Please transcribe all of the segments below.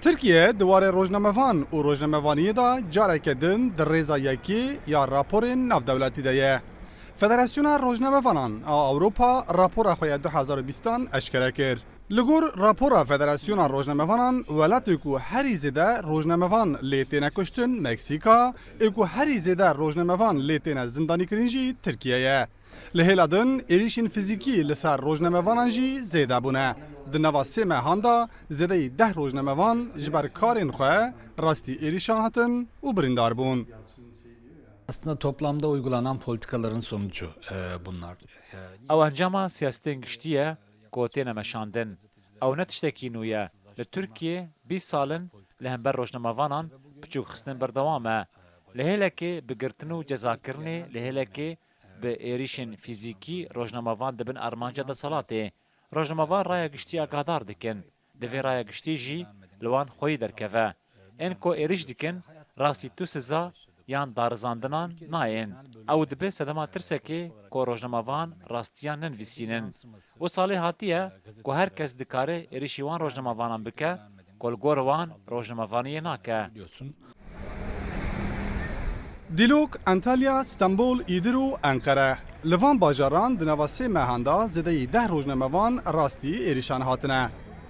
Tirkiye di warê rojnamevan û rojnamevaniyê de careke din di rêza yekê ya raporên navdewletî de ye. Federasyona Rojnamevanan a Ewropa rapora xwe ya du hezar û bîst an eşkere kir. Li gor rapora Federasyona Rojnamevanan, welatê ku herî zêde rojnamevan lê têne kuştin Meksîka, ê ku herî zêde rojnamevan lê têne zindanîkirin jî Tirkiye ye. Li hêla din êrîşên fizîkî li ser rojnamevanan jî zêde bûne. Di nava sê mehan de zêdeyî deh rojnamevan ji ber karên xwe rastî êrîşan hatin û birîndar bûn. Ew encama siyasetên giştî ye ku têne meşandin. Ew ne tiştekî nû ye. Li Tirkiyê bîst sal in li hember rojnamevanan piçûkxistin berdewam e. Li hêlekê bi girtin û cezakirinê li hêlekê Bi êrîşên fîzîkî rojnamevan dibin armanca deselatê. Rojnamevan raya giştî agadar dikin. Divê raya giştî jî li wan xweyî derkeve. Ên ku êrîş dikin rastî tu siza yan darizandinan nayên. Ew dibe sedema tirsekê ku rojnamevan rastiyan nenivîsînin. Û salê hatiye ku her kes dikare êrîşî wan rojnamavanan bike ku li gor wan rojnamavaniyê nake. Dîlok, Antalya, Stenbol, Îdir û Enqere. Li van bajaran di nava sê mehan de zêdeyî deh rojnamevan rastî êrîşan hatine.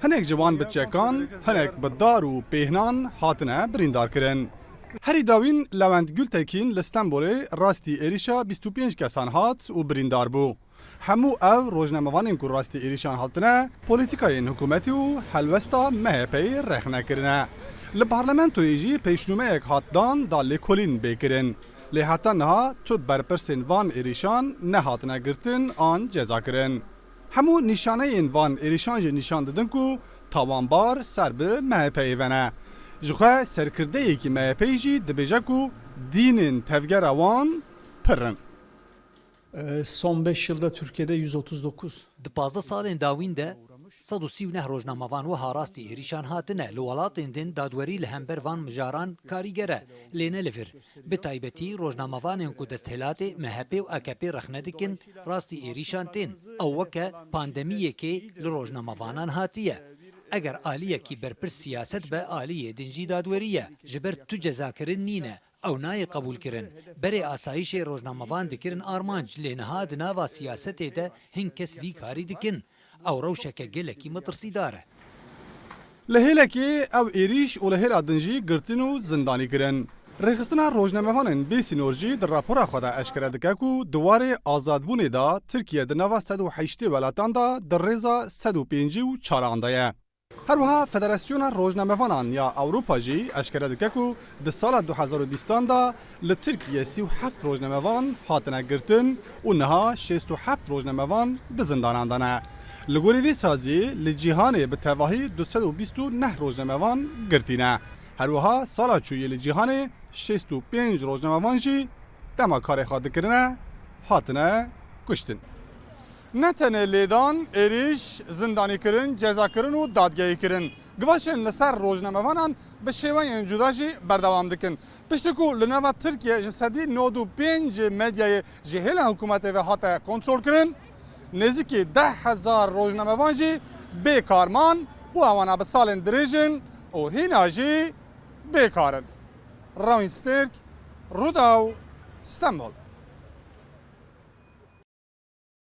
Hinek ji wan bi çekan, hinek bi dar û pêhnan hatine birîndarkirin. Herî dawîn Lewent Gultekîn li Stenbolê rastî êrîşa bîst û pênc kesan hat û birîndar bû. Hemû ev rojnamevanên ku rastî êrîşan hatine polîtîkayên hikûmetî û helwesta MHP'ê rexne kirine. Li parlamentoyê jî pêşnûmeyek hat dan da lêkolîn bê kirin. Lê heta niha tu berpirsên van êrîşan nehatine girtin an cezakirin. Hemû nîşaneyên van êrîşan jî nîşan didin ku tawanbar ser bi MHP'ê ve ne. Ji xwe serkirdeyekî MHP'ê jî dibêje ku dînên tevgera wan pir in. Son beş yıl de Türkiye'de yüz otuz dokuz. Di pazdeh salên dawîn de sed û sî û neh rojnamevan wiha rastî êrîşan hatine li welatên din dadwerî li hember van mijaran karîger e lê ne li vir. Bi taybetî rojnamevanên ku desthilatê MHP'ê û AKP'ê rexne dikin rastî êrîşan tên. Ew weke pandemiyekê li rojnamevanan hatiye. Eger aliyekî berpirs siyaset be aliyê din jî dadwerî ye. Ji ber tu cezakirin nîne Ew nayê qebûlkirin. Berê asayîşê rojnamevan dikirin armanc lê niha di nava siyasetê de hin kes vî karî dikin. Ew rewşeke gelekî metirsîdar e. Li hêlekê ew êrîş û li hêla din jî girtin û zindanî kirin. Rêxistina rojnamevanên bê sînor jî di rapora xwe de eşkere dike ku di warê azadbûnê de Tirkiye di nava sed û heştê welatan de di rêza sed û pêncî û çaran de ye. Herwiha Federasyona Rojnamevanan ya Ewropa jî eşkere dike ku di sala du hezar û bîstan de li Tirkiyê sî û heft rojnamevan hatine girtin û niha şêst û heft rojnamevan di zindanan de ne. Li gorî vî saziyê li cîhanê bi tevahî du sed û bîst û neh rojnamevan girtî ne. Herwiha sala çûyî li cîhanê şêst û pênc rojnamevan jî dema karê xwe dikirine hatine kuştin. Ne tenê lêdan, êrîş, zindanîkirin, cezakirin û dadgehîkirin givaşên li ser rojnamevanan bi şêweyên cuda jî berdewam dikin. Piştî ku li nava Tirkiyê ji sedî nod û pênc ê medyayê ji hêla hikûmetê ve hate kontrolkirin, nêzîkî deh hezar rojnamevan jî bê kar man û ewan a bi salên dirêj in û hîna jî bê kar in. Rawîn Stêrk, Rûdaw, Stenbol.